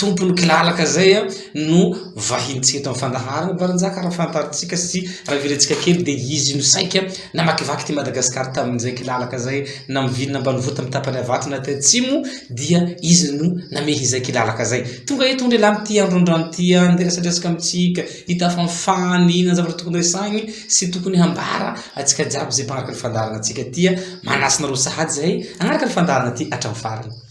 Tompon'ny kilalaka izay no vahintsika eto amin'ny fandaharana. Barinjaka raha fantarintsika sy rahavirintsika kely dia izy no saika namakivaky ity Madagasikara tamin'izay kilalaka izay namovilina ambanivohitra amin'ny tapany avaratra na aty atsimo dia izy no namehy izay kilalaka izay. Tonga eto indray lahy amin'ity andro androany ity handeha resadresaka amintsika, hitafa ny fany, inona ny zavatra tokony resahiny sy tokony hambara antsika jiaby izay mpanaraka ny fandaharana antsika ity. Manasa anareo sahady izahay hanaraka ny fandaharana ity hatramin'ny farany.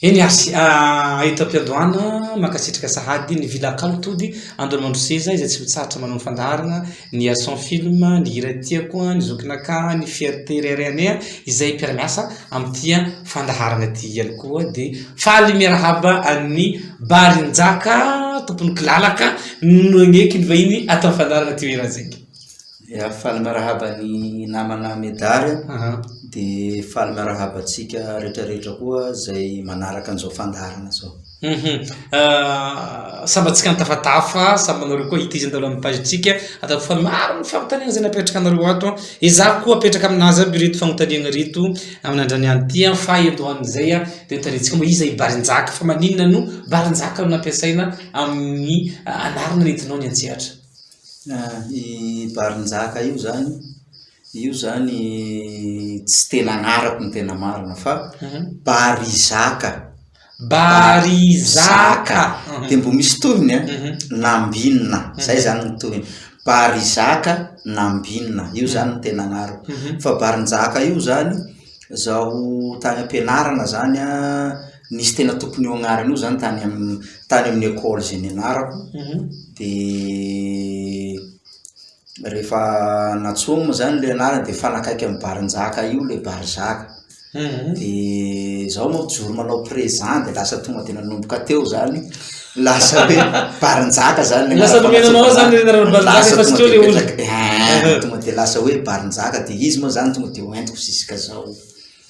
Eny ary sy Aeto am-piandohana, mankasitraka sahady ny Villa Kalo Tody, Andohamandro Seza izay tsy mitsahatra manao ny fandaharana, ny Ason Film, ny Hira Tiako, ny Zokinakahy, ny Fierté iray iray anay izay mpiara-miasa amin'ity fandaharana ity ihany koa dia faly miarahaba an'ny Barinjaka tompon'ny kilalaka. Nagneky ny vahiny ato amin'ny fandaharana Teo Iranjenga. Ya, faly miarahaba ny namana Medary Aha. dia faly miarahaba antsika rehetrarehetra koa izay manaraka an'izao fandaharana izao. Mhm. Ah, samy antsika nitafatafa, samy anareo koa ity izay nandalo amin'ny page-ntsika, ataoko fa maro ny fanontaniana izay napetraka anareo ato an. Ezahako koa apetraka amin'azy aby ireto fanontaniana ireto amin'androany ihany ity an, faha endohan'izay an, dia ho tarihintsika moa iza i Barinjaka, fa maninona no Barinjaka no nampiasaina amin'ny anaran'aretinao ny an-tsehatra. I Barinjaka io zany, io zany tsy tena anarako ny tena marina fa mhm. Barizaka. Barizaka. Mhm. Dia mbo misy tohiny a, eh? mhm. Nambinina. Zay zany ny tohiny. Barizaka Nambinina. Io zany ny tena anarako. Fa Barinjaka io zany, zaho tany am-pianarana zany a, nisy tena tompony io agnarana io zany tany am tany amin'ny école zay nianarako de rehefa natsoa moa zany le anarany de mifanakaiky am barinjaka io le barizaka de zaho moa mijoro manao présent de lasa tonga de nanomboka teo zany lasa hoe barinjaka zany le Lasa nomena anao ao zany le anarana barinjaka fa tsy teo le olona. tonga de lasa hoe barinjaka de izy moa zany tonga de hoentiko ziskazao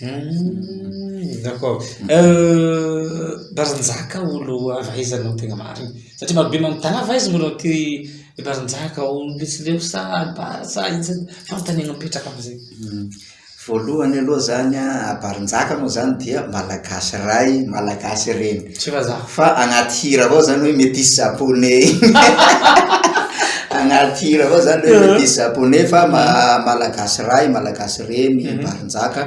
Hum, d'accord. Euh, Baranjaka olo avy aiza no tegna marigny? Satria marobe manontany avy aiza moa ty Baranjaka olo Betsileo sa Bara sa inona? Fanontaniana mipetraka amizay. Hum, voalohany aloha zany an, a Baranjaka moa zany dia Malagasy ray, Malagasy reny. Tsy fa za. Fa agnaty hira avao zany hoe metisy japonais igny agnaty hira avao zany hoe metisy japonais fa ma- malagasy ray malagasy reny mhm. barinjaka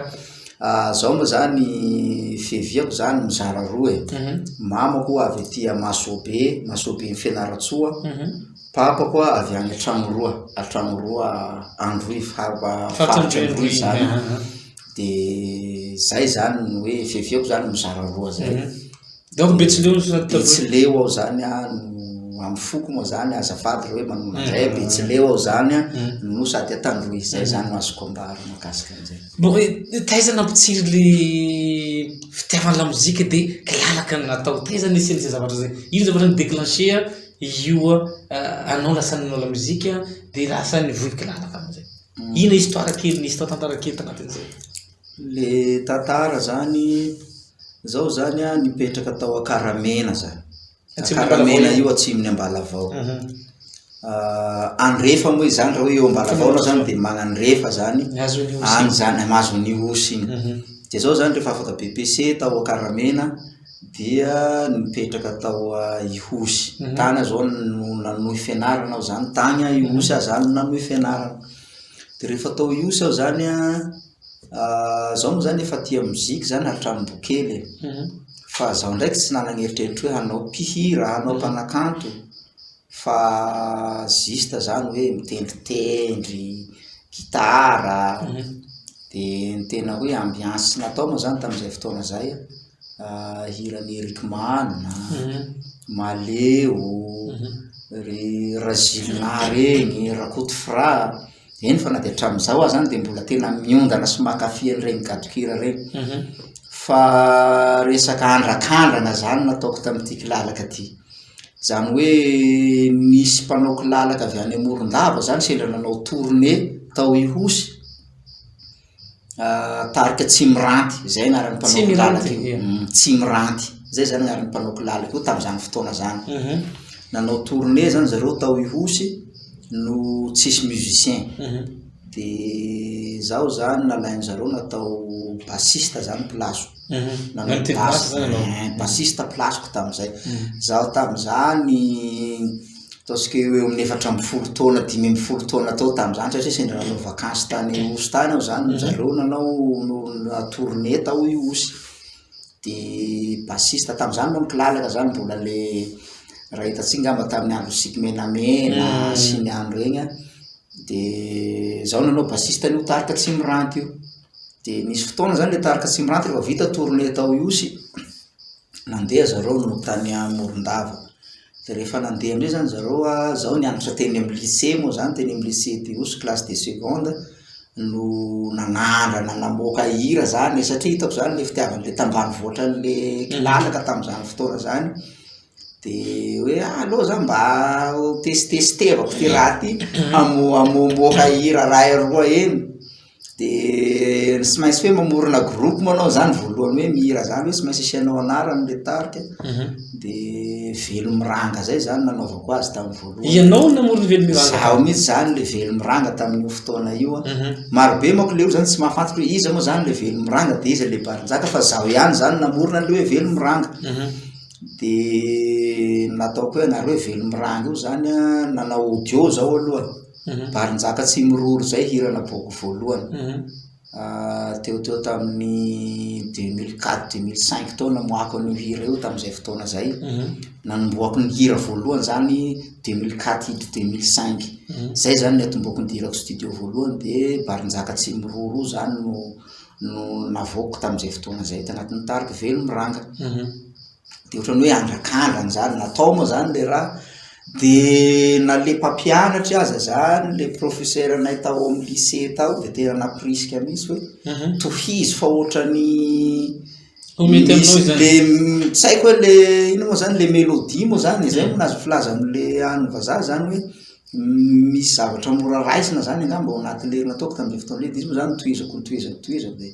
ah, zao moa zany fiheviako zany mizara roa e mhm. mamako avy atia masobe masobe ny fianaratsoa mhm. papa koa avy any atragno roa atragno roa androy faharoa faharoa zany de zay zany ny hoe fihefeko zany mizara roa zay mhm. donc betsileo betsileo ao zany a amy foko moa zany azafady le hoe manona zay mhm. betsileo ao zany a mhm. no sady atandroy zay zany no azoko ambara makasika an'zay bon taiza nampitsiry le fitiavana lamozika de kilalaka ny natao taiza nisy an'izay zavatra zay ino zavatra ny déclencher io euh, anao lasa nanao lamozika de lasa ny vohy kilalaka am'zay Ino histoire kely nisy tao tantara kely tanatin'izay. Le tantara zany zao zany a nipetraka tao Akaramena zany. Akaramena io atsimon'ny Ambalavao. Mhm. Ah, andrefa moa izany raha hoe eo Ambalavao anao zany dia magnandrefa zany. Any zany, mahazo an'io osy iny. Mhm. Dia zao zany rehefa afaka BPC tao Akaramena dia nipetraka tao a Ihosy mhm. tany aho zao no nanohy fianarana aho zany tany a Ihosy mhm. aho zany no nanohy fianarana de rehefa tao Ihosy aho zany a ah, zao moa zany efa tia mozika zany hatramin'ny bokely e. mhm. fa zaho ndraiky tsy nanagneritreritry hoe hanao mpihira hanao mpanakanto fa juste zany hoe mitendritendry gitara de ny tena hoe ambiance natao moa zany tamin'izay fotoana zay hiran'i Eric Man, Maleo, ry Razilina reny, Rakoto Fra. Eny fa na dia hatramin'izao aza any dia mbola tena miondana sy mankafy an'ireny gadon-kira ireny. Mhm. Fa resaka andrakandrana izany no ataoko tamin'ity kilalaka ity. Izany hoe nisy mpanao kilalaka avy any Morondava izany sendra nanao tournée tao Ihosy. Tarika Tsimiranty, izay anaran'ny mpanaoko lalaka io. Tsimiranty, izay izany anaran'ny mpanaoko lalaka io tamin'izany fotoana izany. Mhm. Nanao tournée izany zareo tao Ihosy no tsisy musicien. Mhm. Dia izaho izany nalain'ny zareo natao bassiste izany place-ko. Mhm. Nanao Nitety basse basse izany ianao? Eh, bassiste place-ko tamin'izay. Izaho tamin'izany Ataontsika hoe eo amin'ny efatra ambin'ny folo taona, dimy ambin'ny folo taona tao tamin'izany satria sendra nanao vakansy tany Osy tany aho izany, zareo nanao tournée tao i Osy, dia bassiste tamin'izany moa ny kilalaka izany mbola ilay Rahetantsika angamba tamin'ny andro Tsiky Menamena sy ny andro iny an, dia izaho nanao bassiste an'io tarika Tsimiranty io, dia nisy fotoana izany ilay tarika Tsimiranty rehefa vita tournée tao Ihosy, Nandeha zareo no tany Morondava dia rehefa nandeha indray zany zareo a, zaho nianatra teny amin'ny lycée moa zany, teny amin'ny lycée Diosy classe de seconde no nanandrana namoaka hira zany e, satria hitako zany ilay fitiavan'ilay tambanivoatra an'ilay kilalaka tamin'izany fotoana izany, dia hoe ah aleo zah mba ho tesitesitevako ity raha ity, hamoha- hamoamoaka hira iray roa eny De tsy maintsy hoe mamorona groupe moa anao zany voalohany hoe mihira zany hoe tsy maintsy asianao anarany le tarika mhm. de velomiranga zay zany nanaovako azy tamin'ny voalohany ianao namorona velomiranga zaho mihitsy zany le velomiranga tamin'io fotoana io a mhm. marobe mako le olo zany tsy mahafantatra hoe iza moa zany le velomiranga de iza le barinjaka fa zaho ihany zany namorona le hoe velomiranga mhm. de nataoko hoe anareo hoe velomiranga io zany a nanao audio zao aloha Mhm. Barinjaka tsy miroro izay hira naboako voalohany. Mhm. Ah, teo teo tamin'ny 2004 2005 tao namoahako an'io hira io tamin'izay fotoana izay. Mhm. Nanombohako ny hira voalohany izany 2004 hidry 2005. Izay izany ny atomboako ny dirako studio voalohany dia Barinjaka tsy miroro izany no no navoako tamin'izay fotoana izay tanatin'ny tariko velo miranga. dia ohatran'ny hoe andrakandrana izany, natao moa izany ilay raha, dia na ilay mpampianatry aza izany, ilay professeur-nay tao amin'ny lycée tao dia tena nampirisika mihitsy hoe tohizo fa ohatran'ny misy le tsy haiko hoe le ino moa izany le mélodie moa izany, izay moa no azo filaza amin'ilay any vazaha izany hoe misy zavatra mora raisina izany angamba ao anatin'ilay nataoko tamin'ilay fotoana iny, dia izy moa izany no tohizako notohizako notohizako dia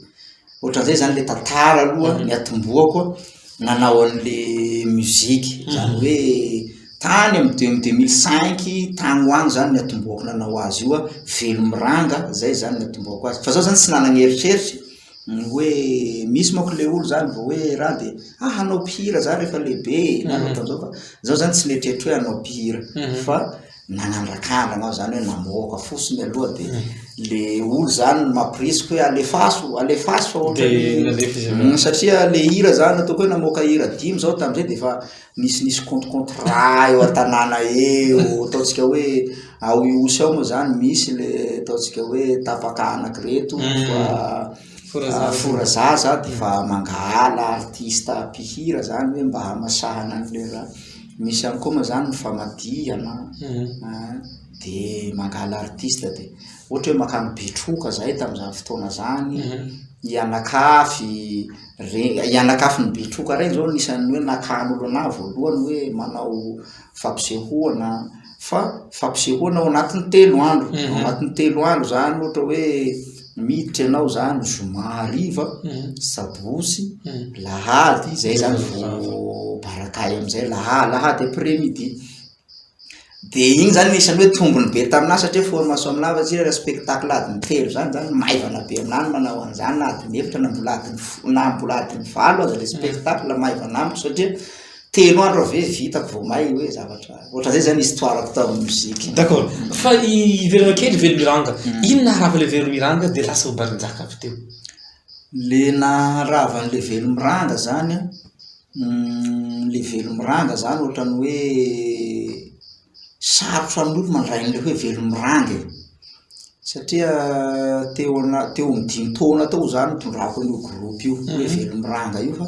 ohatran'izay zany le tantara aloha ny atombohako a nanao an'le musique mhm. zany hoe tany am de deux mille cinq tany ho any zany ny atombohako nanao azy io a velomiranga zay zany ny atombohako azy fa zao zany tsy nanagny eritreritra ny hoe misy mako le olo zany vao hoe raha de a ah, hanao mpihira za rehefa lehibe mhm. nanao tamzao fa zao zany tsy neritreritry hoe hanao mpihira mhm. fa nanandraka ahy nanao zany hoe namoaka fo siny aloha de le olo zany no mampirisiko hoe alefaso alefaso fa ohatra De ny- nalefa izy avy eo. Mm, satria le hira zany ataoko hoe namoaka hira dimy zao tamin'izay de efa nisy nisy compte compte raha eo an-tanàna eo ataontsika hoe ao ihosy ao moa zany misy le ataontsika hoe tapaka anak'ireto Mm. fa Fora zaza dia efa mangahala artista mpihira zany hoe mba hamasahana an'ireo zany. Misy ihany koa moa zany ny famadihana an, dia mangahala artista dia ohatra hoe mankany Betroka zahay tamin'izany fotoana zany, i Anakafy, re- i Anakafy ny Betroka reny izao no isan'ny hoe nakan'olona ahy voalohany hoe manao fampisehoana fa fampisehoana ao anatin'ny telo andro mhm. ao anatin'ny telo andro zany ohatra hoe miditra ianao zany zoma hariva mhm. sabosy mhm. lahady zay zany vo barakay am'izay laha lahady après midi de igny zany nisany hoe tombony be taminà satria formation aminah fa tsira respectacle adiny telo zany zany maivana be aminany manao an'zany na adiny efitra na mbola adiny na mbola adiny valo aza le spectacle maivana amiko satria Telo andro avy eo vitako vao may hoe zavatra. Ohatran'izay zany histoire-ko tamin'ny mozika. D'accord. Fa hiverina kely Velomiranga. Hmm. Inona naharava ilay Velomiranga dia lasa ho Barinjaka avy teo? Le naharava an'ilay Velomiranga zany an, hmm, le Velomiranga zany ohatran'ny hoe Sarotra ny olo mandray an'ilay hoe velomirandy e! satria teo ana- teo amin'ny dimy taona teo izaho no nitondrako an'io groupe io hoe velomiranga io fa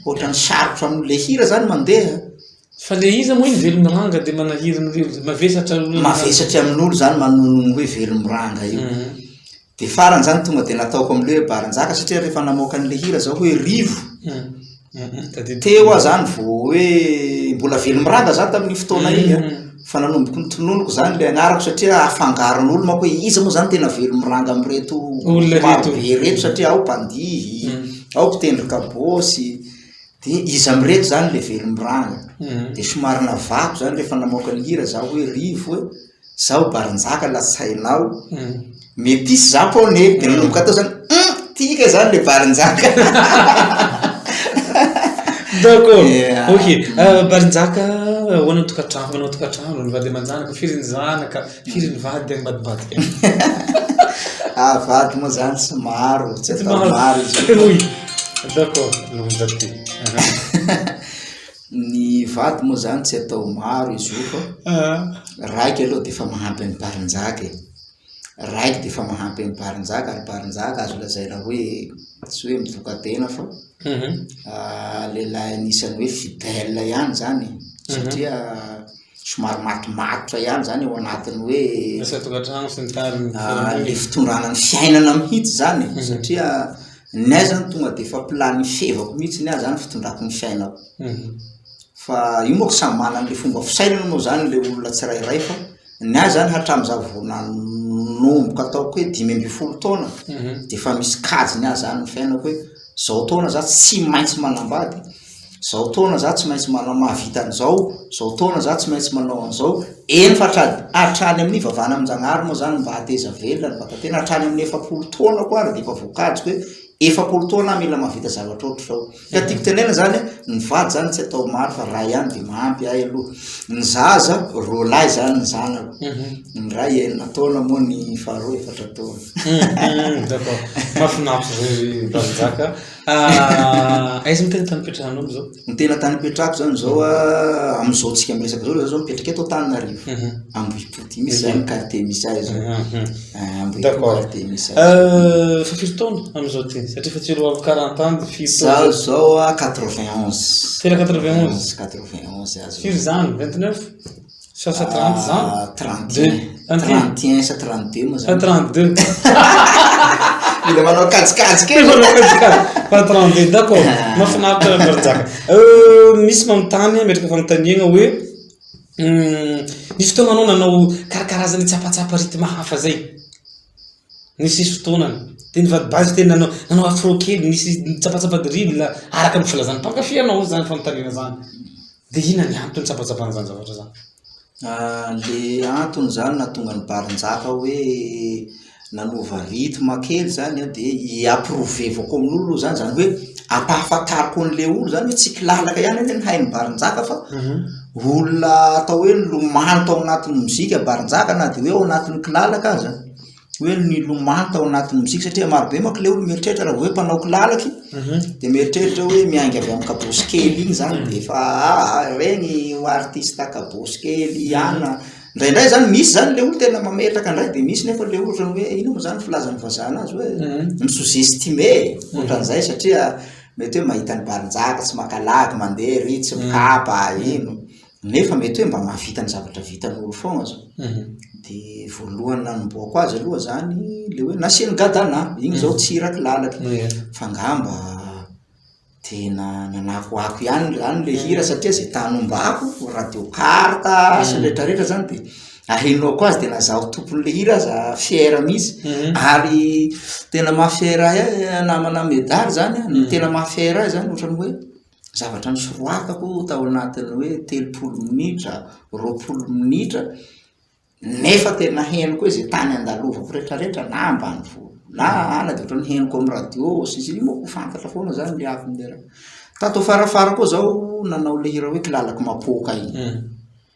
ohatran'ny sarotra ny olo, le hira zany mandeha a, Fa le iza moa iny velomiranga dia manahiry ny rivotra, mavesatra ny olona. Mavesatry amin'olo zany manono ny hoe velomiranga io. Dia farany izany tonga dia nataoko amin'ilay hoe Barinjaka satria rehefa namoaka an'ilay hira izao hoe Rivo, teo aho izany vao hoe mbola velomiraga izaho tamin'iny fotoana iny an, fa nanomboko nitononiko izany ilay anarako satria afangaron'olo manko hoe iza moa izany tena velomiranga amin'ireto Olona ireto. marobe ireto satria ao mpandihy, ao mpitendry kabôsy, dia iza amin'ireto izany ilay velomiranga? Dia somary navahako izany rehefa namoaka ny hira izaho hoe Rivo e! Zaho Barinjaka lazainao metisy Japoney de nanomboka tao zany hum tika zany le Barinjaka D'accord yeah. ok uh, Barinjaka ahoana ny tokantrano manao tokantrano ny vady aman-janaka firy ny zanaka firy ny vady any mbadibadika ah vady moa zany tsy maro tsy atao maro izy d'accord no vady Ny vady moa zany tsy atao maro izy io fa raiky aloha dia efa mahampy an'i Barinjaka e. Raiky dia efa mahampy an'i Barinjaka ary Barinjaka azo lazaina hoe tsy hoe mivoka-tena fa ah, lehilahy anisan'ny hoe fidèle ihany zany e. Satria somary matomatotra ihany zany ao anatin'ny hoe Asa an-tokantrano sy ny tariny. ah, le fitondrana ny fiainana mihitsy zany e. Satria Ny ahy izany tonga dia efa planifevako mihitsy ny ahy izany fitondrako ny fiainako. Mhm. Fa io moa samy manana an'ilay fomba fisainana moa izany ilay olona tsirairay fa ny ahy izany hatramin'izaho vao nanomboka ataoko hoe dimy ambin'ny folo taona mhm. dia efa misy kajy ny ahy izany ny fiainako hoe izao taona za tsy maintsy manambady Zao taona za tsy maintsy manao mahavita an'izao, zao taona za tsy maintsy manao an'izao, eny fa hatrany amin'ny hivavahana amin'Njagnahary moa zany mba hahateza velona ny vatan-tena, hatrany amin'ny efapolo taonako ary dia efa voakajiko hoe efapolo taona aho mila mahavita zavatra ohatr'izao, ka tiako tenenana zany hoe ny vady zany tsy atao maro fa ray ihany dia mahampy ahy aloha, ny zaza roa lahy zany ny zanako, ny ray enina taona moa ny faharoa efatra taona. D'accord, mahafinaritra zay Valinjaka. Ah, aiza no tena tany ipetrahanao amin'izao? Ny tena tany ipetrahako izany izao ah, amin'izao tsika miresaka izao, izao mipetraka eto Antananarivo. Mhm. Ambohipoty misy izany mhm. quartier misy ahy izao. Mhm. Ah, Ambohipoty quartier misy ahy. Euh, fa firy taona amin'izao ty? Satria fa tsy roa amby quarante ans firy taona? Izaho izao 91. Ah, tena 91? 91 azo. Firy izany? 29? Sa sa 30 zany? Ah, 32. Zany ty? 31 sa 32 moa Sa zany. 32? Mila manao kajikajy kely. Mila manao kajikajy. Fa 32 dako. Ah. Mahafinaritra ny Rajaka. Euh, misy manontany ametraka fanontaniana hoe hum, nisy fotoana anao nanao karakarazana tsapatsapa rythme hafa zay. Nisy nisy fotoanany. Dia ny vady base tena nanao nanao afro kely, nisy tsapatsapa drill araka ny filazan'ny mpankafy anao zany fanontaniana zany. Dia inona ny antony tsabantsabaina izany zavatra izany? Ilay antony izany nahatonga an'i Barinjaka hoe nanova rythme kely izany an, dia hi-approuvevako amin'olona aloha izany, izany hoe ampahafantariko an'ilay olona izany hoe tsy mpilalaka ihany anie ny hain'i Barinjaka fa mhm. olona atao hoe nilomano tao anatin'ny mozika Barinjaka na dia hoe ao anatin'ny kilalaka aza. hoe nilomano tao anatin'ny mozika satria marobe manko ilay olona mieritreritra raha vao hoe mpanao kilalaka iny dia mieritreritra hoe miainga avy amin'ny kabosy kely iny izany dia efa ah ireny ho artista kabosy kely ihany, indraindray izany misy izany ilay olona tena mametraka indray dia misy nefa ilay olona ohatran'ny hoe inona moa izany ny filazan'ny vazaha an'azy hoe mi-sous-estime e, ohatran'izay satria mety hoe mahita an'i Balinjaka tsy maka lagy mandeha ery tsy mikapa iny, nefa mety hoe mba mahavita ny zavatra vitan'olo foagna zao, de voalohany nanombohako azy aloha zany le hoe nasiany gadana, igny zao tsy hira kilalaky, fa ngamba tena nanakoako ihany zany le hira satria zay tany ombako radio carte sy ny retraretra zany de ahenoako azy de na zaho tompon'le hira aza fier mihitsy, ary tena maha fier ahy namana medary zany an, ny tena maha fier ahy zany ohatran'ny hoe. zavatra nosoratako tao anatin'ny hoe telopolo minitra, roapolo minitra, nefa tena henoko hoe izay tany andalovako rehetrarehetra na ambanivolo na any dia ohatran'ny henoko amin'ny radio sy ny sisa, io moa ho fantatra foana izany ny avy ny raha. Tato afarafara koa izao nanao ilay hira hoe kilalako mapoaka iny.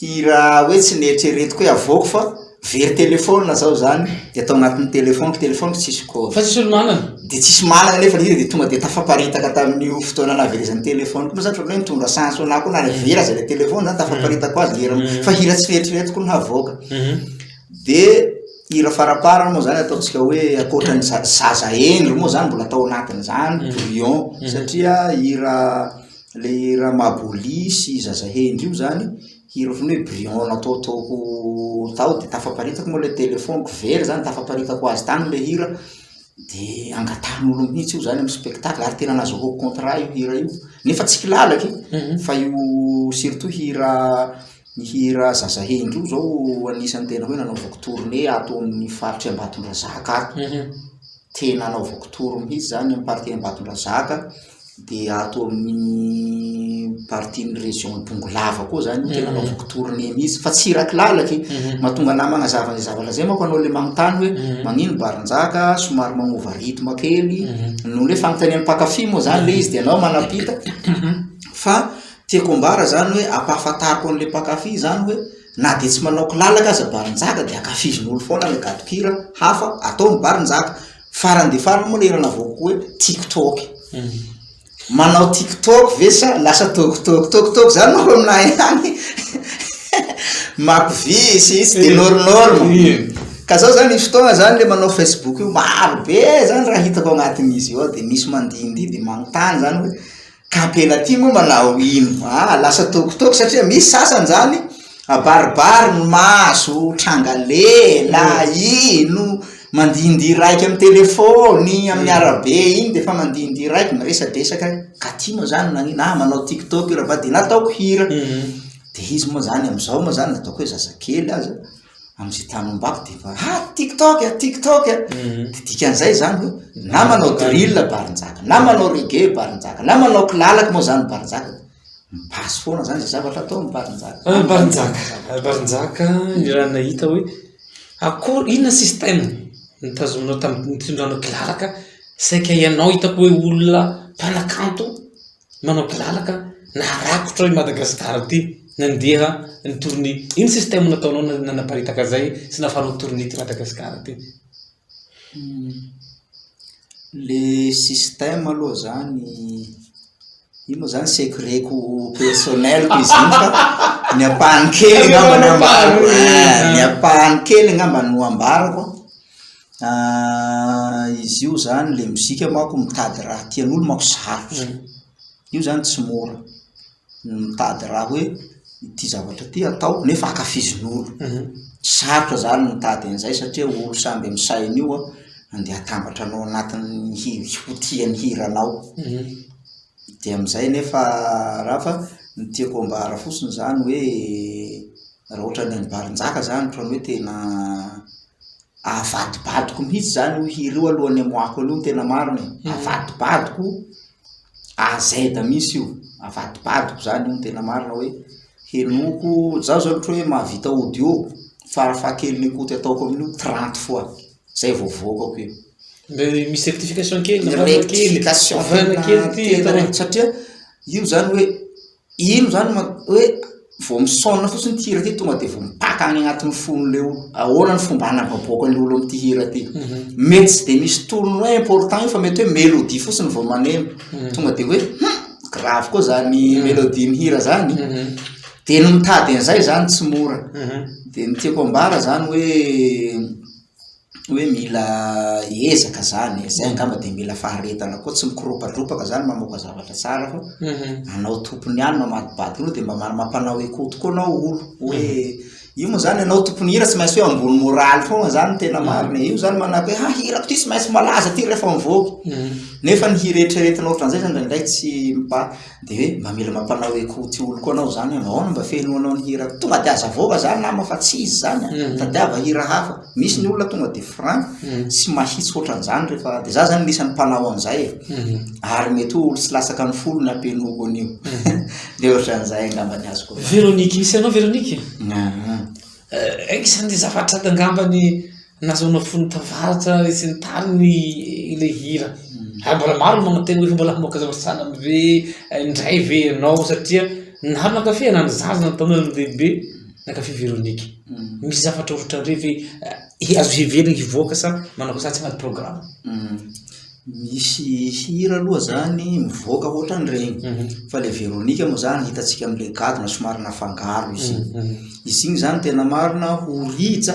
Hira hoe tsy neritreretiko hoe havoako fa very telephone zaho zany de atao anatin'ny telephone-ko, telephone-ko tsisy code. Fa tsisy olo manana? De tsisy manana nefa le hira de tonga de tafaparitaka tamin'io fotoana nahaverezan'ny telephone-ko, moa zany ohatran'ny hoe nitondra chance ho anahy koa na le very aza le telephone zany tafaparitako azy le hira m- fa hira tsy neritreretiko ny havoaka. De hira faraparany moa zany ataontsika hoe ankoatran'ny za- zaza hendry moa zany mbola atao anatin'zany brouillon satria hira le ramaboly sy zaza hendry io zany hira otrany hoe brion nataotaoko tao de tafaparitaka moa le telefoniko very zany tafaparitako azy tany le hira de angatahan'olo mihitsy io zany am spectacle ary tena nazahoako contrat io hira io nefa tsy kilalaka e mhm. fa io surtout hira ny hira zaza hendry io zao anisan'ny tena hoe nanaovako tournée ato amin'ny faritry ambatondrazaka ato mhm. tena anaovako tour mihitsy zany am partie ambatondrazaka Dia ato amin'ny partie ny région Bongolava koa zany tena anaovako mhm. tournée mihitsy fa tsy iraky lalaka e mhm. mahatonga anah magnazava ny zavatra zay manko anao le magnontany hoe mhm. magnino barinjaka somary magnova rythme kely noho le fanontanian'ny mpakafy moa zany le izy de anao manapita fa tiako ambara zany hoe ampahafantariko an'le mpakafy zany hoe na de tsy manao kilalaka aza barinjaka de akafizin'olo foana le gadokira hafa atao ny barinjaka Farany dia farany moa ilay hira navoakako hoe TikTok. Manao TikTok ve sa lasa tôkotôko tôkotôko zany manko aminahy any makovisy tsy dia nôrnôrma. Ka zao zany misy fotoana zany le manao Facebook io maro be zany raha hitako agnatin'izy eo dia misy mandihindihy dia manontany zany hoe. Gabena ty moa manao ino aa lasa tokotoko satria misy sasany zany abaribary no mahazo tranga lela ino mandindia raika amin'ny telefony amin'ny arabe iny de efa mandindia raika miresadresaka katy moa zany nagnino ah manao tiktok io ravady nataoko hira de izy moa zany amizao moa zany ataoko hoe zazakely aza Amin'izay tany ombako dia efa ah tiktok a tiktok a, dia dikan'izay izany hoe na manao drill Barinjaka, na manao reggae Barinjaka, na manao kilalaka moa izany Barinjaka, mi-passe foana izany izay zavatra atao ny Barinjaka. Ah, Barinjaka, ah, Barinjaka, ny raha nahita hoe akory, inona système nitazominao tamin'ny nitondranao kilalaka, saika ianao hitako hoe olona mpanakanto. manao kilalaka na rakotra i Madagascar ity nandeha ny tournée ino système nataonao nanaparitaka zay sy nafaranao tournée ty Madagascar ty le système aloha zany io moa zany secret ko personnel ko izy iny fa ny ampahany kely angamba ny ampahany kely angamba no ambarako Ahh izy io zany le mozika manko mitady raha tian'olo manko sarotra, io zany tsy mora, ny mitady raha hoe ity zavatra ty atao nefa ankafizin'olo, sarotra zany ny mitady an'izay satria olo samby amin'ny sainy io an, andeha atambatra anao anatin'ny hi- ho tia ny hiranao, de amin'izay nefa raha fa ny tiako ambara fotsiny zany hoe raha ohatra ny an'i Barinjaka zany ohatran'ny hoe tena Avadibadiko mihitsy zany io hira io alohan'ny amoahako an'io ny tena marina e, avadibadiko A Z mihitsy io, avadibadiko zany io ny tena marina hoe henoko, zaho zany ohatra hoe mahavita audio farafahakeliny écoute ataoko amin'io trente fois zay vao avoakako io. Mbe misy rectification kely na vahana kely, vahana kely ty atao hoe. Satria io zany hoe. Ino izany no mat- hoe vao misaona fotsiny ity hira ity tonga dia vao mipaka any anatin'ny fon'ilay olona. Ahoana ny fomba hanavaboakan'ny olona amin'ity hira ity? Mety tsy dia misy tolony hoe important io fa mety hoe mélodie fotsiny vao maneno. Tonga dia hoe hum, grave koa izany mélodie-n'ny hira izany. Dia ny mitady an'izay izany tsy mora. Dia ny tiako ambara izany hoe hoe mila ezaka zany e, zay angamba dia mila faharetana koa, tsy mikoropatropaka zany mamoaka zavatra tsara fa mhm. anao tompony ihany mamadibady koa dia mba mampanao écho tokoa anao olo hoe mhm. io moa zany anao tompony hira tsy maintsy hoe ambony moraly foana zany tena mhm. marina e. io zany manako hoe ha hirako ty tsy maintsy malaza ty rehefa mivoaka nefa ny hira eritreretina ohatran'izay zany indraindray tsy mipa Dia hoe mba mila mampanao hoe ko ty oloko anao zany aho, ahoana mba fenoanao ny hira ko, tonga dia aza avoaka zany nama fa tsy izy zany an, tadiava hira hafa, misy ny olona tonga dia franc sy mahitsy hoatran'izany rehefa, dia za zany anisan'ny mpanao an'izay e, ary mety hoe olo tsy latsaka ny folo ny ampenoako an'io, dia ohatran'izay angamba ny azoko vahana. Véronique, misy anao Véronique? Ahh, eh, eh, isan'ny zavatra angambany Nazonao fony tavaratra sy ny tariny ilay hira ary mbola maro no magnantena hoe mbola hamoaka zavatra sanany ve indray ve ianao satria na mankafy na ny zaza na ny tanora na ny lehibe nankafy Véronique. Misy zavatra hotrandre ve hi- azo heverina hivoaka sa manao akory sa tsy agnaty programme? Misy hira aloha zany mivoaka hoatran'regny fa le Véronique moa zany hitantsika am'le gadona somary nafangaro izy igny, izy igny zany tena marina ho rija.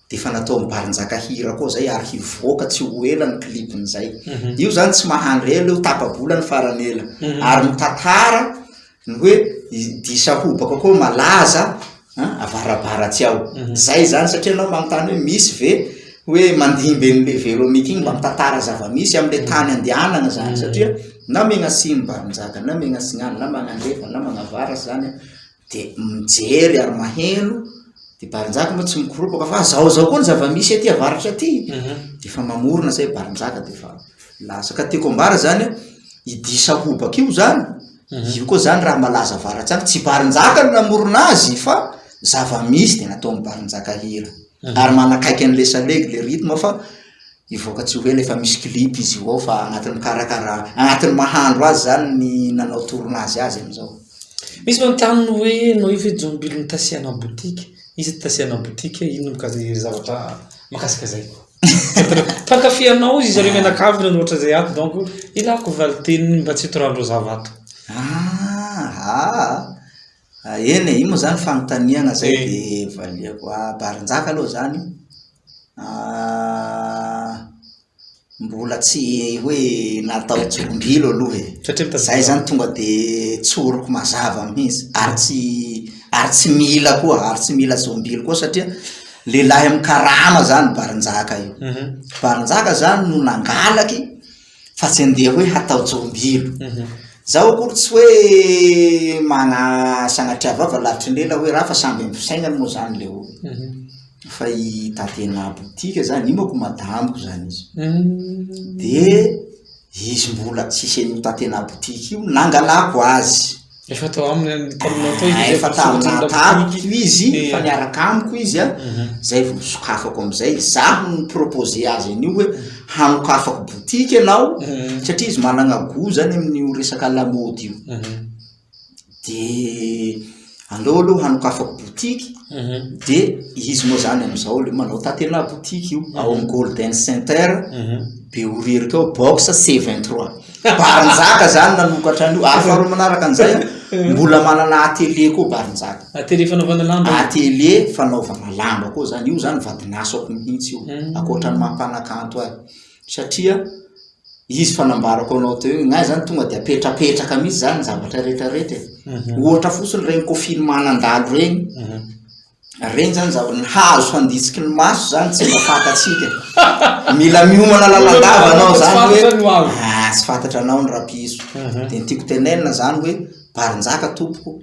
dia efa nataon'i Barinjaka hira koa izay ary hivoaka tsy ho ela ny clip-ny izay. Io izany tsy mahandry ela io, tapa-bola ny farany ela. Ary mitantara ny hoe dihy sahobako koa malaza avarabaratsy ao. Izay izany satria ianao manontany hoe misy ve hoe mandimby an'ilay Véronique iny mba mitantara zava-misy amin'ilay tany andehanana izany satria na Megnasian'i Barinjaka na Megnasignano na Magnandefa na Magnavaratra izany Dia mijery ary maheno, dia Barinjaka moa tsy mikoropaka fa zao zao koa ny zava-misy aty avaratra aty, mhm. dia efa mamorona zay Barinjaka dia efa lasa. Ka tiako ambara zany hoe ity sahobaka io zany, mhm. io koa zany raha malaza avaratsy any, tsy Barinjaka no namorona azy fa zava-misy dia nataon'ny Barinjaka hira. Mhm. Ary manakaiky an'le salegy le rythme fa Hivoaka tsy ho ela efa misy clip izy io ao fa anatin'ny mikarakara anatin'ny mahandro azy zany ny nanao tournage azy amizao. Misy manontany hoe ianao io ve Jombil no tasiana boutique? Iza no tasiana boutique? Inona mikasika izay zavatra mahakasika izay? Mpankafy anao ry zareo mianakavy nanohitra izay ato donc ilako valin-teniny mba tsy hitorahany reo zava ato. Ah ah. Ah eny e, io moa zany fanontaniana zay eh. de valiako. Ah Barinjaka aloha zany ah mbola tsy hoe natao jombilo aloha e. Satria mitazona. Zay zany tonga de tsoriko mazava mihitsy ary tsy ary tsy mila koa ary tsy mila jombilo koa satria lehilahy amin'ny karama zany Barinjaka io. Mhm. Barinjaka zany no nangalaky. fa tsy andeha hoe hatao jombylo zaho akory tsy hoe mana sanatria vava lavitry ny lela hoe raha fa samby amin'ny fisainany moa zany le olo mhm. fa i tatena botika zany imako madamiko zany izy mhm. de izy mbola tsisy an'io tatena botika io nangalako azy Efa tao aminy ny taminao tao izy. Efa taminao tamiko izy, efa niaraka amiko izy a. Mhm. Zay vao sokafako amizay. Zaho no proposer azy an'io hoe mhm. hanokafako boutique ianao mhm. satria izy managna goût zany amin'io resaka lamaody io. De aleo aloha hanokafako boutique de izy moa zany amizao le manao tatena boutique io ao am Golden Center be orerika ao box C23. Barinjaka zany nanokatra an'io ary faharoa manaraka an'izay an, mbola manana atelier koa Barinjaka. Atelier fanaovana lamba. Atelier fanaovana lamba koa zany, io zany vadin'asako mihitsy io, ankoatran'ny maha mpanakanto ahy, satria izy efa nambarako anao teo iny, ny ahy zany tonga dia apetrapetraka mihitsy zany ny zavatra rehetra rehetra e, ohatra fotsiny ireny koffin'ny manandalo ireny, Regny zany zava ny hazo handitsiky ny maso zany tsy mba fantatsika mila miomana lalandava anao zany hoe ah, tsy fantatra anao ny rapiso mhm. de ny tiako tenenina zany hoe barinjaka tompoko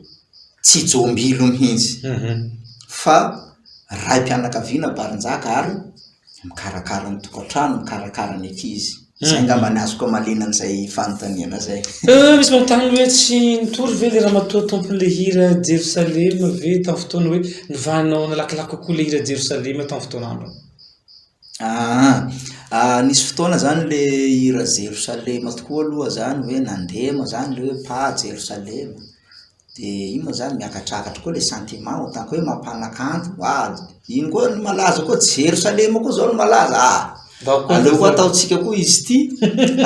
tsy jombilo mihitsy mhm. fa ray mpianakaviana barinjaka ary mikarakara ny tokantrano, mikarakara ny ankizy. Hmm. Izay angamba ny azoko amaliana an'izay fanontaniana izay. Eh, misy manontany hoe tsy nitory ve le ramatoa tompon'ilay hira Jerosalema ve tamin'ny fotoana hoe nivahanao nalakilaky kokoa le hira Jerosalema tamin'ny fotoana andro? Ah, ah, nisy fotoana zany le hira Jerosalema tokoa aloha zany hoe nandema zany le hoe pa Jerosalema. De iny moa zany miakatrakatra koa le sentiment ohatran'ny koa hoe mampanakanto ah iny koa ny malaza koa Jerosalema koa zao no malaza ah aleo koa ataontsika koa izy ity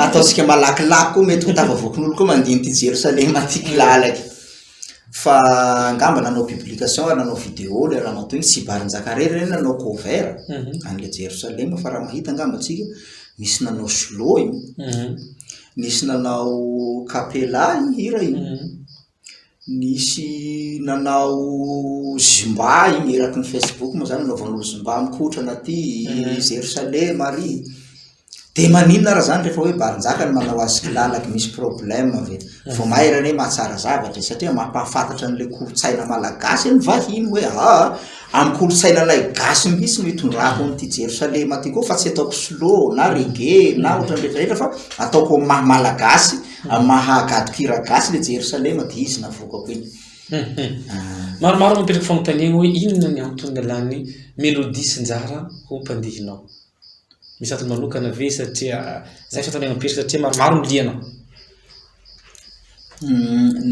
ataontsika malakilaky koa mety ho tafavoakin'olo koa mandihy ity Jerosalema ty kilalaky fa angamba nanao publication ary nanao video le ramatoa iny Tsibarinjakarera reny nanao cover mhm. an'le Jerosalema fa raha mahita angamba tsika misy nanao slow iny mhm. Nisy nanao capella io hira io, nisy nanao zumba iny eraky ny Facebook moa zany nanaovan'olo zumba mikotrana aty Jerosalema ary, de maninona ary zany rehefa hoe Barinjaka no manao azy kilalaky misy problème ve? vao mainka anie mahatsara zavatra e, satria mampahafantatra an'le kolontsaina malagasy anie vahiny hoe aa, Amin'ny kolontsainanay gasy mihitsy no itondrako an'ity Jerosalema ty koa fa tsy ataoko slow na reggae na ohatrany rehetra rehetra fa ataoko amin'ny maha malagasy, amin'ny maha gadoko hira gasy le Jerosalema de izy navokako iny. Maromaro no mipetraka fanontaniagna hoe inona ny antony nalany melodie sy njara ho mpandihy nao? Misy antony manokana ve satria za efa tandremo be satria maromaro ny liana?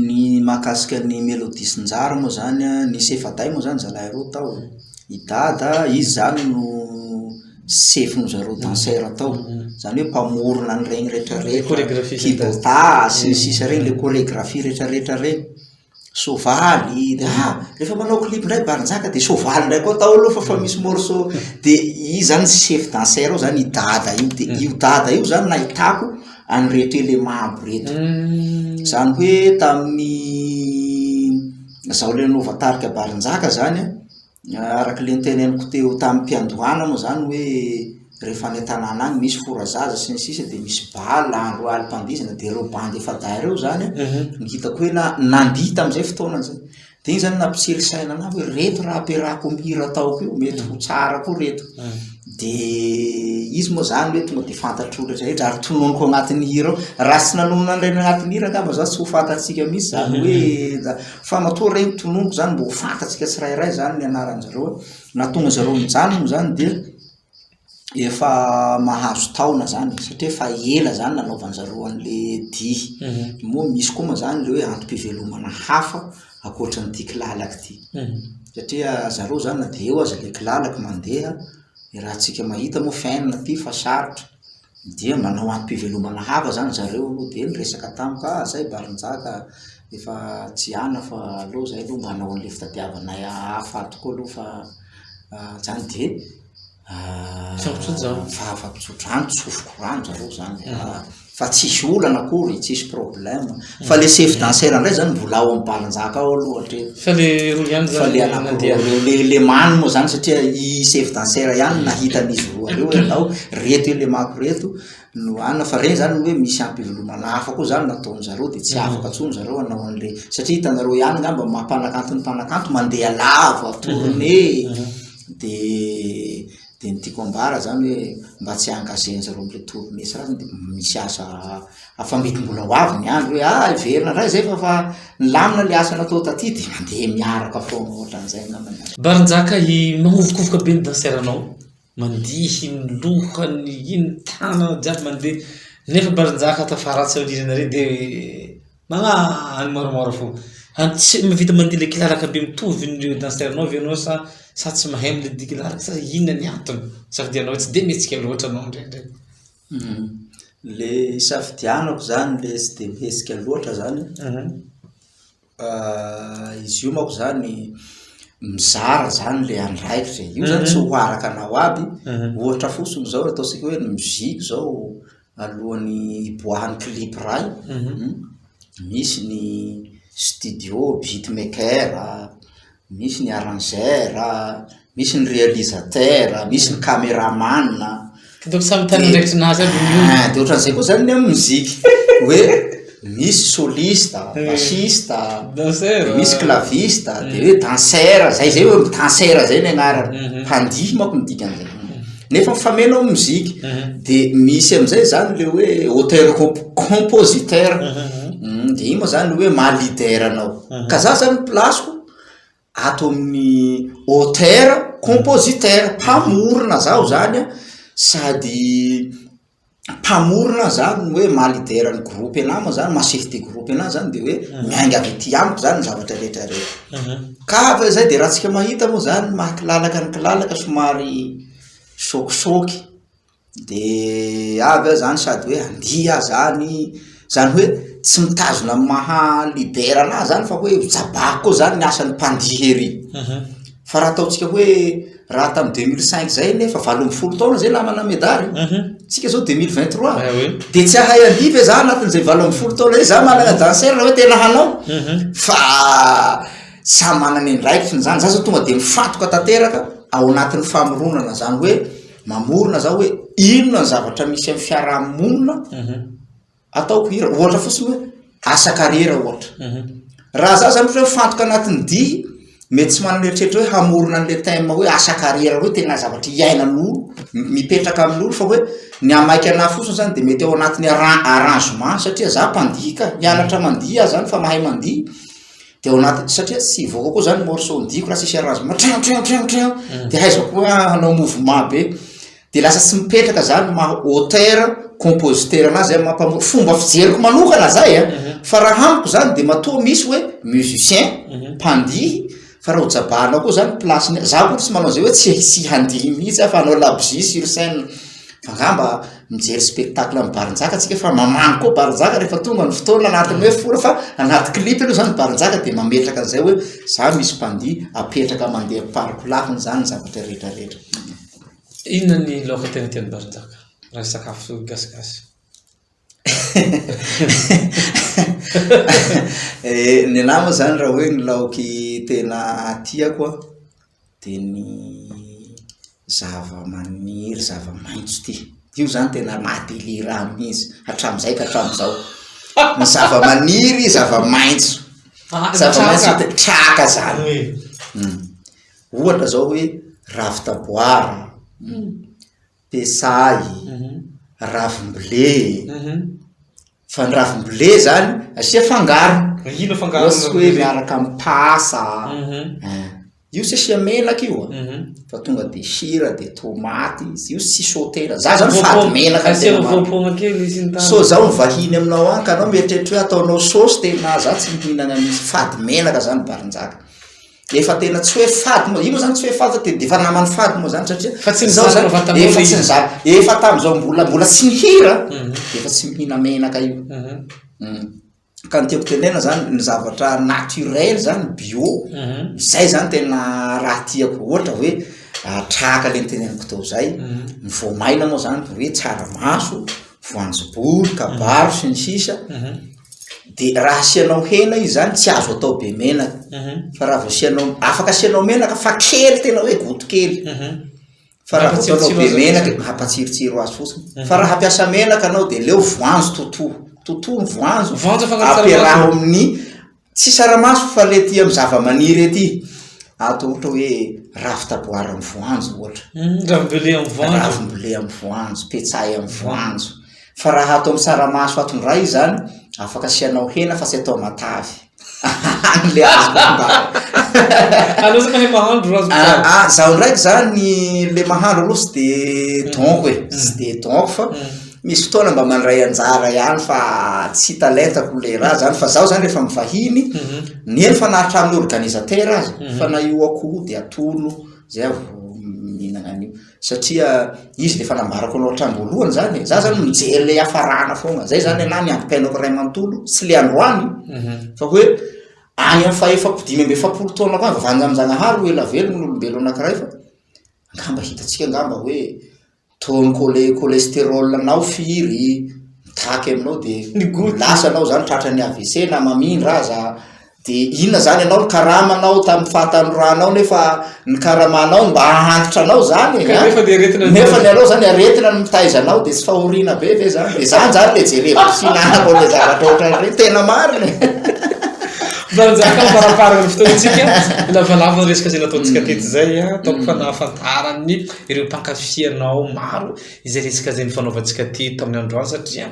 Ny mahakasika ny Melody sy Njary moa izany an, nisy efa-dahy moa izany zalahy roa tao e, i Dada izy izany no sefon-dry zareo danseur tao, izany hoe mpamorona an'ireny rehetra rehetra, kibotà sy ny sisa ireny, ilay choregraphie rehetra rehetra ireny soavaly dia ah rehefa manao clip indray Barinjaka dia soavaly indray koa atao aloha fa efa misy morceau dia izy izany chef danseur ao izany i Dada io dia io Dada io izany nahitako an'ireto élément aby ireto, izany hoe tamin'ny izaho ilay nanaova tarika Barinjaka izany an, Araka ilay noteneniko teo tamim-piandohana moa izany hoe rehefa any an-tanàna any misy forazaza sy ny sisa dia misy bal andro alim-pandihizana dia ireo bandy efa-dahy ireo izany no hitako hoe na, nandihy tamin'izay fotoana izay. Dia iny izany nampitsiry saina anà hoe ireto raha ampiarahako amim-pihira ataoko io mety ho tsara koa ireto. Dia izy moa izany hoe tonga dia fantatr'olona rehetra ary tononiko ao anatin'ny hira ao. Raha tsy nanonona an'ireny anatin'ny hira angamba izany tsy ho fantatsika mihitsy izany hoe Fa matoa re ny tononiko zany mba ho fantatsika tsirairay zany ny anaranjareo nahatonga zareo nijanona zany dia efa mahazo taona zany satria efa ela zany nanaovanjareo anle dihy mhm. moa misy koa ma zany le hoe antom-pivelomana hafa akoatra n'ity kilalaka ity mhm. satria zareo zany na de eo aza le kilalaka mandeha raha tsika mahita moa fin ty fa sarotra Dia manao antom-pivelomana hafa zany zareo dia niresaka tamiko ah zay Barinjaka efa tsy ana fa aleo zay aloha mba hanao an'le fitadiavana hafa tokoa aloha fa zany dia fahafatotsodrano, tsofiko rano zareo zany fa tsisy olana akory, tsisy problème. Fa le chef danseur ndray zany mbola ao am balinjaka ao aloha hatreto. Fa le roa ihany zany. Fa le anakiroa reo le le many moa zany satria i chef danseur ihany no nahita an'izy roa reo hoe andao reto elemako reto no anona fa regny zany hoe misy ampivelomana hafa koa zany nataony zareo de tsy afaka tsony zareo anao anle satria hitanareo ihany ngamba maha mpanakanto ny mpanakanto mandeha lava tournée de Dia ny tiako ambara zany hoe mba tsy ankazeny zareo mitory mihitsy raha dia misy asa afa mety mbola ho avy ny andro hoe ah hiverina indray zay fa fa nilamina le asa natao taty dia mandeha miaraka foana ohatran'izay angamba ny azy. Barinjaka i mahovokovoka be ny danseur anao mandihy ny lohany iny tanana jiaby mandeha nefa barinjaka tafaratsy aoriana re dia Manga any moramora fo. Any tsy mahavita mandihy le kilalaka be mitovy ny danseranao ve ianao sa sa tsy mahay mandihy ny kilalaka sa inona ny antony? Sa dia ianao tsy dia mihetsika loatra ianao indraindray? Le isafidianako zany le tsy dia mihetsika loatra zany izy io manko zany mizara zany le andraikitra e, io zany tsy ho araka anao aby, ohatra fotsiny zao ataontsika hoe ny musique zao alohan'ny hiboahan'ny clip iray misy ny studio beat maker a, misy ny arrangeur a, misy ny realisateur a, misy ny cameraman a, Hitako samy tany andraikitra nazy aby ny olona. ah dia ohatran'izay koa izany ny amin'ny mozika hoe misy soliste, bassiste, dia misy claviste, dia hoe dancer, zay zay hoe dancer zay ny anarany, mpandihy manko ny dikan'izay, nefa mifameno amin'ny mozika, dia misy amin'izay izany ilay hoe auteur comp- compositeur, dia iny moa izany hoe maha leader anao, ka za izany ny place-ko ato amin'ny auteur, compositeur, mpamorona zaho zany an, sady mpamorona zany hoe maha leader ny groupe anah moa zany, maha chef de groupe anah zany de hoe miainga avy aty amiko zany ny zavatra rehetra rehetra, ka fa zay de raha tsika mahita moa zany maha kilalaka ny kilalaka somary sôkisôky. De avy aho zany sady hoe andihy aho zany, zany hoe tsy mitazona ny maha leader anahy zany fa hoe ho jabahako koa zany ny asan'ny mpandihy ery, fa raha ataontsika hoe raha tamin'ny deux mille cinq zay anie efa valo ambin'ny folo taona zay namana medary, tsika zao deux mille vingt trois de tsy hahay andihy ve za anatin'izay valo ambin'ny folo taona zay, za manana danseur raha hoe tena hanao fa samy manana ny andraikiny zany, za zao tonga de mifantoka tanteraka ao anatin'ny famoronana zany hoe. mamorona za hoe inona ny zavatra misy amin'ny fiarahamonina mhm. ataoko hira ohatra fotsiny hoe asa kariera ohatra mhm. raha za zany hoe fantoka anatin'ny di mety tsy manana eritreritra hoe hamorona an'la time hoe asa kariera hoe tena zavatra hiainan'olo mipetraka amin'olo fa hoe ny amaika ana fotsiny zany de mety ao anatin'ny arrangement satria za mpandika mianatra mandia zany fa mahay mandia dia ao anaty satria tsy hivoaka koa zany morceau ny diako raha tsisy arrangement trin trin trin trin mm. dia haizako koa hanao mouvement be dia lasa tsy mipetraka zany maha auteur compositeur anazy zay mampamo fomba fijeriko manokana zay a mhm. fa raha amiko zany dia matoa misy hoe musicien mhm. mpandihy fa raha hojabahanao koa zany placeny za koa tsy manao zay hoe tsy tsy handihy mihitsy afa hanao labzi sur scène fa ngamba mijery spectacle an'i Barinjaka tsika fa mamangy koa Barinjaka rehefa tonga ny fotoana anatin'ny hoe fora fa anaty clip aloha zany Barinjaka dia mametraka an'izay hoe za misy mpandihy apetraka mandeha pariko lafiny zany zavatra rehetra rehetra inona ny laoka tena tian'i Barinjaka raha sakafo gasigasy eh, ny nama zany raha hoe ny laoky tena tiako dia ny zavamaniry, zavamaitso ity, io izany tena maha-délire ahy mihitsy, hatramin'izay ka hatramin'izao, ny zavamaniry, zavamaitso, zavamaitso te-, traka izany, ohatra izao hoe ravi-taboara. Pesahy, ravimble e, fa ny ravimble zany asia fangaro, ohatsy hoe miaraka am pasa an, io tsy asia menaka io an, fa tonga de sira de tomaty izy io tsy sautena, za zany fady menaka ny tena marina, sao zaho mivahiny aminao any ka anao mieritreritra hoe ataonao saosy tena za tsy mihinana an'io, fady menaka za ny barinjaka. Efa tena tsy hoe fady moa, io moa zany tsy hoe fady fa tena efa naman'ny fady moa zany satria Fa tsy ny izao zany zaka vantany efa tsy ny izy. zaka, efa tamin'izao mbola mbola tsy nihira Mhm. dia efa tsy mihina menaka io. Mhm. Mhm. Ka ny tiako tenena zany ny zavatra naturel zany bio, Mhm. izay zany tena raha tiako ohatra hoe ah, tahaka le niteneniko teo zay, Mhm. ny voamaina moa zany dia hoe tsaramaso, voanjobory, kabaro sy ny sisa de raha asianao hena izy zany tsy azo atao be menaka fa raha vao asianao, afaka asianao menaka fa kely tena hoe goto kely fa raha vao ataonao be menaka mampatsirotsiro azy fotsiny fa raha hampiasa menaka anao de leo voanjo totoa totoa ny voanjo ampiaraho amin'ny Tsy saramaso fa le tia amin'ny zavamaniry ety ato ohatra hoe ravi-taboara amin'ny voanjo ohatra. Mm, ravim-bele amin'ny voanjo. Ravim-bele amin'ny voanjo, petsay amin'ny voanjo. Fa raha ato amin'ny saramaso ato indray izany, afaka asianao hena fa tsy atao matavy. Any le azoko ambara. Anao zany mahay mahandro raha azoko ambara. Ah, ah, zaho ndraiky zany le mahandro aloha tsy de donko e, tsy de donko fa Misy fotoana mba mandray anjara ihany fa tsy talentako le raha zany fa zaho zany rehefa mivahiny mhm. ny eny fa na hatramin'ny organisateur aza mhm. fa na io akoho de atolo zay aho mihinana an'io satria izy le fa nambarako anao hatramin'ny voalohany zany za zany mijery le hafarana foana zay zany anahy ny ampiainako ray manontolo sy le androany mhm. fa hoe any am fahefako dimy ambe efapolo taona ko any vavanjamjanahary ho elavelogno olombelo anakiray fa angamba hitatsika angamba hoe Toa mi-colle cholestérol anao firy mitaky aminao dia lasa anao zany tratran'ny avc na mamindra aza dia inona zany ianao nikarama anao tamin'ny fahatanoranao nefa ny karamanao no mba ahantitra anao zany e nefa ny aretina nefa ny anao zany aretina no mitaiza anao dia tsy fahoriana be ve zany dia zany zany le jerevako sy nanako le zavatra ohatran'ireny tena marina e Nanjaka faraparany fotoantsika, lavalava ny resaka izay nataontsika mm. tety izay, ataoko mm. fa nahafantaran'ny ireo mpankafy anao maro izay resaka izay nifanaovantsika aty tamin'ny androany satria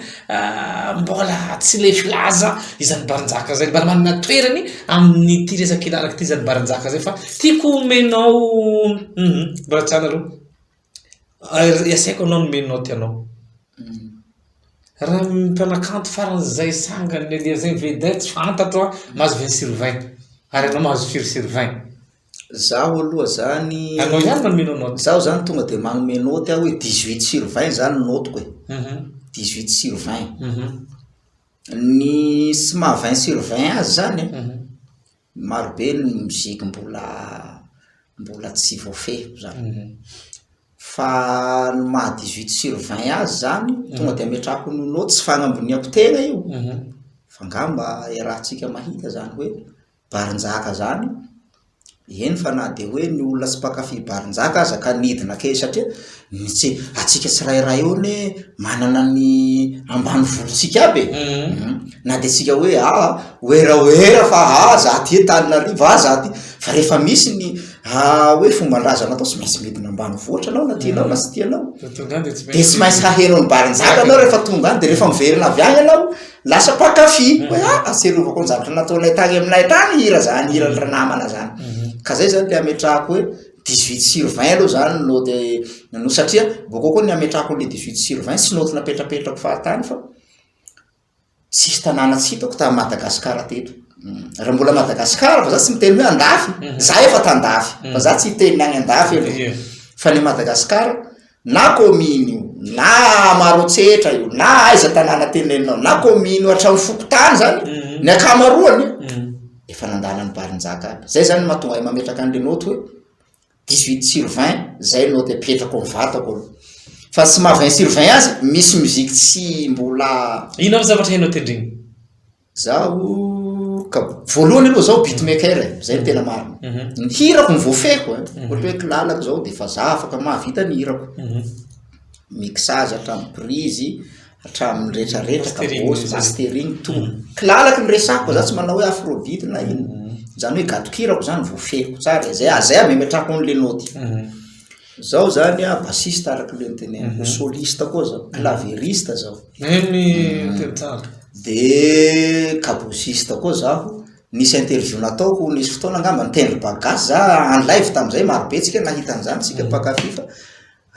mbola tsy lefy laza izany baranjaka izay mbola manana toerany amin'ity resaka ilalaka ity izany baranjaka izay fa tiako omenao mhm, mbola tsy anareo iasaiko anao nomenao ty anao mhm. raha mpanakanto faran'izay sangany lelia zay vedette fantatro a mahazo vingt sur vingt ary anao mahazo firy sur vingt Zaho aloha zany, Anao ihany manomeno note. Zaho zany tonga dia manome note aho hoe dix huit sur vingt zany ny note-ko e. Dix huit sur vingt. Ny tsy maha vingt sur vingt azy zany an, marobe ny musique mbola mbola tsy voafehiko zany. Fa ny maha dix huit sur vingt azy zany, tonga dia ametrahako ny note, tsy fagnamboniako tegna io, fa ngamba iarahantsika mahita zany hoe. Barinjaka zany, eny fa na dia hoe ny olona tsy mpankafy barinjaka aza ka nidina kely satria ny tsy, antsika tsirairay eo anie manana ny ambanivohitsika aby e, na dia tsika hoe aa werawera fa aa za aty Antananarivo aa za aty, fa rehefa misy ny hoe fomban-drazana atao tsy maintsy midina ambanivohitra anao na tianao na tsy tianao, dia tsy maintsy haheno an'i barinjaka anao rehefa tonga any, dia rehefa miverina avy any ianao Lasa mpankafy hoe ah aserovako ny zavatra nataonay tany aminay tany hira zany hira ny ranamana zany mhm. ka zay zany le ametrahako hoe 18 sur 20 aloha zany no de no satria bokao koa ny ametrahako le 18 sur 20 sy noty napetrapetrako fahatany fa tsisy tanàna tsy hitako tamin'ny madagasikara teto mm. raha mbola madagasikara fa za tsy miteny hoe andafy mhm. za efa tandafy mhm. fa za tsy hiteny any andafy fa ny madagasikara na kaominy io, na Maroantsetra io, na aiza tanàna tenenina ao, na kaominy io hatramin'ny fokontany zany, ny ankamaroany efa nandala ny barinjaka aby. Zay zany no mahatonga ahy mametraka an'le naoty hoe dix huit sur vingt, zay naoty apetrako amin'ny vatako aloha. Fa tsy maha vingt sur vingt azy, misy musique tsy mbola. Inona ny zavatra hainao tendrena? Zaho ka voalohany aloha zaho beatmaker e, zay no tena marina. Mhm. Ny hirako ny voafehiko e, mhm. ohatra hoe kilalako zao de fa za afaka mahavita ny hirako. Mhm. Mixage hatramin'ny prise, hatramin'ny retraretra, kabosy, mastering, tout. Kilalako ny resako, za tsy manao hoe afrobeat na ino. Zany hoe gadon-kirako zany voafehiko tsara e, zay zay amemetrahako an'le naoty. Zaho zany a bassiste araka le niteneniko, soliste koa zaho, clavieriste zaho. Eny ny tenisaha. De kabosiste koa zaho, nisy interview nataoko nisy fotoana angamba nitendry bagasy za en live tamin'izay, marobe antsika nahita an'izany isika mpankafy fa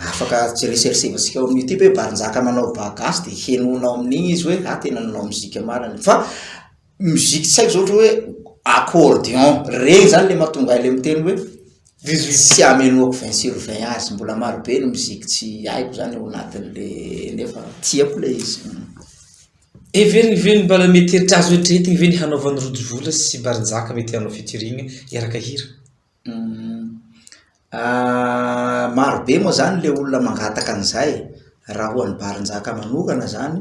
afaka resersevntsika ao amin'ny youtube hoe Barinjaka manao bagasy de henoina ao amin'iny izy hoe ah tena nanao mozika marina, fa musique tsy haiko zao ohatra hoe accordion regny zany le mahatonga ahy le miteny hoe tsy amenoako vingt sur vingt azy mbola marobe ny musique tsy haiko zany ao anatin'le nefa tiako le izy Heveriny ve ny mbala mety heritrà azo eritreretigny ve ny hanaovan'i Rojo Vola sy Barinjaka mety hanao featuring hiaraka hira? Marobe moa zany le olona mangataka an'izay, raha ho an'i Barinjaka manokana zany,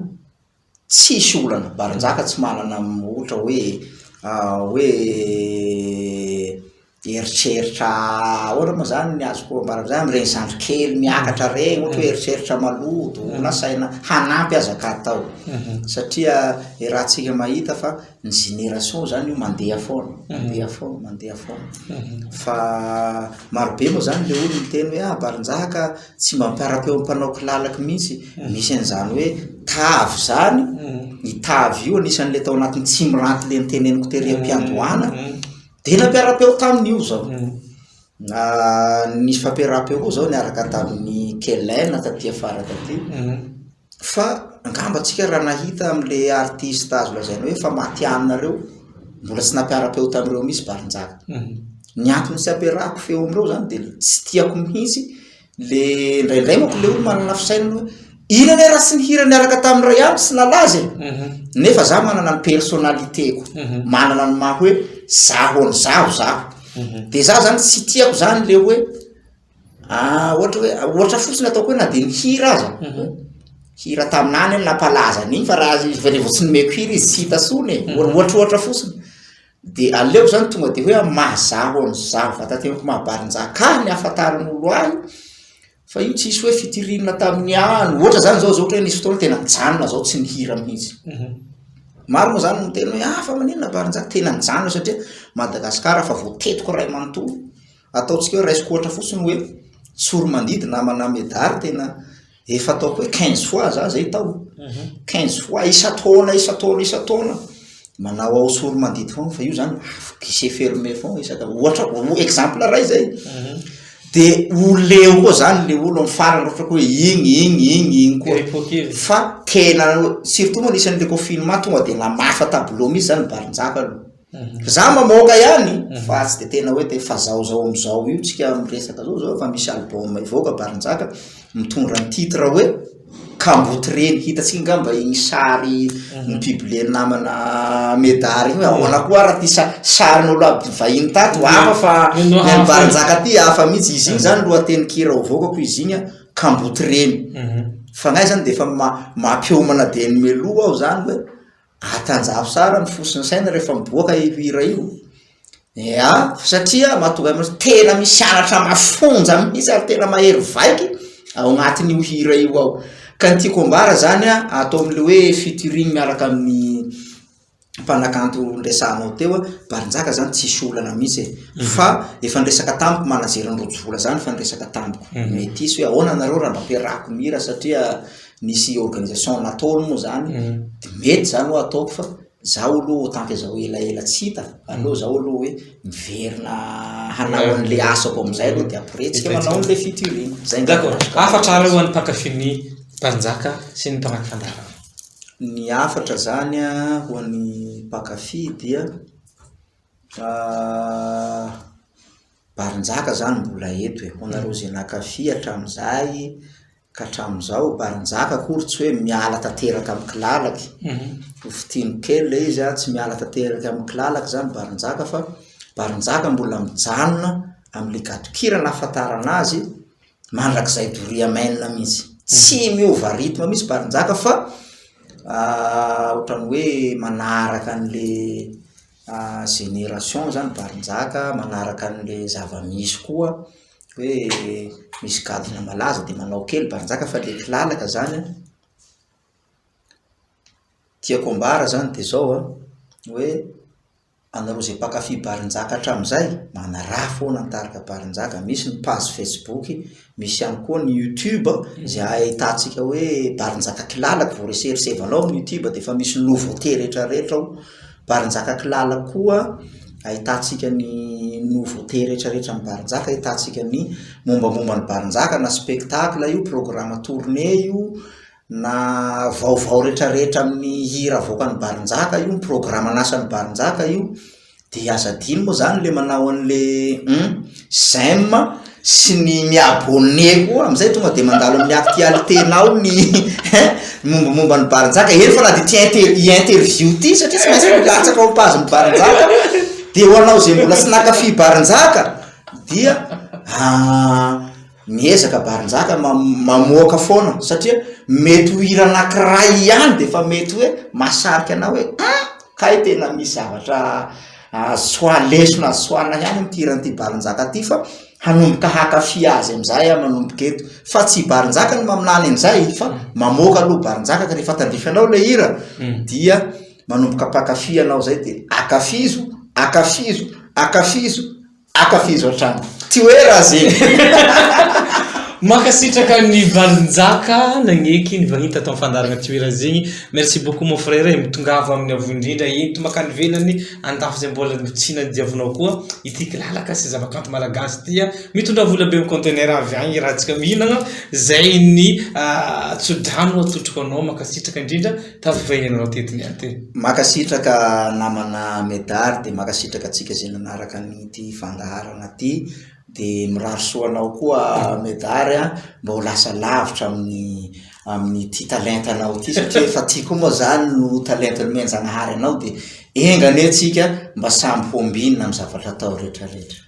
Tsisy olana, Barinjaka tsy manana ohatra hoe hoe eritreritra ahoana moa zany ny azoko ambara zany amin'ireny zandry kely miakatra ireny ohatra hoe eritreritra maloto na saina hanampy aza ka atao satria iarahantsika mahita fa ny génération zany io mandeha foana mandeha foana mandeha foana fa marobe moa zany le olona miteny hoe ah Barinjaka Tsy mba mipara-peo amin'ny mpanao kilalaka mihitsy. Misy an'izany hoe tavy izany, io tavy io anisan'ilay tao anatin'ny tsy miranty ilay noteneniko tery am-piandohana, dia nampiara-peo taminy io izao. Nisy fampiaram-peo koa izao niaraka tamin'i Kellen taty afara taty. Fa angamba antsika raha nahita amin'ilay artiste azo lazaina hoe efa matihanina ireo, mbola tsy nampiara-peo tamin'ireo mihitsy Balinjaka. Mhm. Ny antony tsy ampiarahako feo amin'ireo izany dia ilay tsy tiako mihitsy ilay indraindray manko ilay olona manana fisainana hoe inona anie raha tsy nihira niaraka tamin'ny iray andro tsy nalaza e? Mhm. Nefa za manana ny personnalité-ko, mhm. manana ny maha hoe zaho an'izaho zaho. Dia za zany tsy tiako zany ilay hoe Ah, ohatra hoe, ohatra fotsiny ataoko hoe na dia ny hira aza, mhm. hira taminany hoe nampalaza an'iny fa raha vao tsy nomeko hira izy tsy hita sony e, mhm. ohatra ohatra fotsiny. Dia aleoko zany tonga dia hoe mahazaho an'izaho vatantenako mahabarinjaka ny hafantaran'olo ahy fa io tsisy hoe fitirina tamin'ny any, ohatra zany zao zao ohatra hoe nisy fotoana tena mijanona zao tsy ny hira mihitsy. Mhm. Maro moa zany miteny hoe ah fa maninona barinjaka, tena nijanona satria Madagasikara fa voatetiko iray manontolo. Ataontsika hoe raisiko ohatra fotsiny hoe tsoromandidy na manà medaly tena efa ataoko hoe quinze fois za zay tao mhm. quinze fois isan-taona isan-taona isan-taona manao ao tsoromandidy foana fa io zany guichet fermé foana isaka ohatra exemple ray zay mhm. de ho leo koa zany le olo am farany ohatra ko hoe igny igny igny igny koa fa tena surtout moa anisan'le confinement tonga de namafa tableau mihitsy zany barinjaka aloha Za mba maoka ihany fa tsy de tena hoe te fa zao zao amizao io tsika miresaka zao zao fa misy album hivoaka Barinjaka mitondra ny titre hoe kamboty reny hitatsika angamba iny sary no publier ny namana Medard iny hoe ahoana koa ara ty sa- sary nolo aby vahiny tato hafa fa ny an'i Barinjaka ty hafa mihitsy izy iny zany lohatenin-kira hovoakako izy iny an kamboty reny fagnahy zany de efa ma- mampiomana de ny meloa aho zany hoe Atanjaho tsara ny fo sy ny saina rehefa miboaka io hira io ea satria mahatonga anao hoe tena misy anatra mafonja mihitsy ary tena mahery vaika ao anatin'io hira io ao ka ny tiako ambara zany a atao am'le hoe featuring miaraka amin'ny mpanakanto noresahanao teo a Barinjaka zany tsisy olana mihitsy e fa efa niresaka tamiko manager an'i Rojovola zany efa niresaka tamiko métis hoe ahoana nareo raha mba ampiarahako ny hira satria nisy organisation nataony moa zany mm. de mety zany ho ataoko fa zaho aloha otanke zao elaela tsy hita aleo zaho aloha hoe miverina hanao an'le asako am'izay aloha de après tsika manao an'le fiturina zay ndako afatra ary ho an'ny mpakafiny mpanjaka sy ny mpanaky fandarana ny afatra zany a ho an'ny mpakafi dia ah, barinjaka zany mbola eto e ho anareo zay nakafi hatramin'izay Ka hatramin'izao, Barinjaka akory tsy hoe miala tanteraka amin'ny kilalaky. Ho fitino kely ilay izy an, tsy miala tanteraka amin'ny kilalaky izany Barinjaka fa Barinjaka mbola mijanona amin'ilay gadon-kira nahafantarana azy mandrakizay Doria Main mihitsy. Tsy miova rythme mihitsy Barinjaka fa ohatran'ny hoe manaraka an'ilay génération izany Barinjaka, manaraka an'ilay zava-misy koa. hoe misy gadona malaza dia manao kely baranjaka fa ilay kilalaka izany an, tiako ambara izany dia izao an, hoe anareo izay mpankafy baranjaka hatramin'izay, manaraha foana ny tarika baranjaka, misy ny page facebook, misy ihany koa ny youtube izay ahitantsika hoe baranjaka kilalaka vao reseresevanao amin'ny youtube dia efa misy nouveauté rehetra rehetra ao Barinjaka Kilala koa ahitantsika ny nouveauté rehetrarehetra ny Barinjaka, ahitantsika ny mombamomba ny Barinjaka na spectacle io, programme tourné io, na vaovao rehetrarehetra amin'ny hira avoakan'ny Barinjaka io, ny programme an'asan'ny Barinjaka io, dia aza adino moa izany ilay manao an'ilay hum. j'aime sy ny mi abonne koa amizay tonga de mandalo amin'ny actualité nao ny mombamomba ny barinjaka eny fa na de ty interview ty satria tsy maintsy milatsaka ao am page ny barinjaka de ho anao zay mbola tsy naka fy barinjaka dia ah Miezaka Barinjaka mamoaka foana satria mety ho hira anankiray ihany dia efa mety hoe mahasarika anao hoe ah! kay tena misy zavatra azo lesona azo tsoahina ihany amin'ity hiran'ity Barinjaka ity fa hanomboka hakafy azy amin'izay aho manomboka eto fa tsy Barinjaka no maminany an'izay fa mamoaka aloha Barinjaka ka rehefa tandrify anao ilay hira hmm. dia manomboka mpakafy ianao izay dia akafizo akafizo akafizo Akafizo hatrany. Tsy hoe raha zegny. Mankasitraka ny valin-jaka nagneky ny vahiny tato amin'ny fandaharagna Tsy hoe raha zegny. Merci beaucoup mon frère e, mitongava amin'ny avo indrindra ento mankany ivelany, andafy izay mbola tsy nadiavinao koa ity kilalaka sy zavakanto malagasy ity a. Mitondrà vola be amin'ny conteneur avy agny raha antsika mihinagna, zay ny tso-drano atolotro ho anao, mankasitraka indrindra. Tafy fa ianao teto ny aty. Makasitraka namana Medard de makasitraka atsika ze nanaraka an'ity fandaharana ty de mirary soa anao koa Medard a mba ho lasa lavitra amin'ny amin'ity talentanao ty satria efa ty koa moa zany no talenta nomen'Zagnahary anao de enga anie atsika mba samy ho ambinina amin'ny zavatra atao retraretra.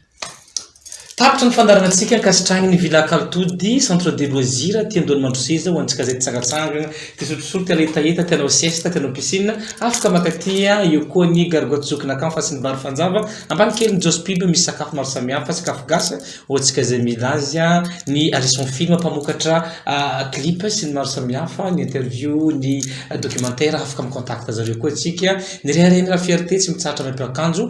Tapitra ny fandaharanantsika ankasitrahan'ny ny Villa Kaltody, Centre de loisirs, aty an-doan'ny Mandroseza ho antsika izay tsangatsangana, te sotrosotro, te aletaeta, te hanao siesta, te hanao piscine, afaka maka aty, eo koa ny Gare Goat Zoky Nakan fa sy ny Bar Fanjava, ambany kely ny Joss Pub misy sakafo maro samihafa, sakafo gasy ho antsika izay mila azy, ny Harrison Film mpamokatra clip sy ny maro samihafa, ny interview, ny documentaire, afaka mi-contact zareo koa atsika, ny Rehareha Mirary Fierté tsy mitsahatra mampiakanjo.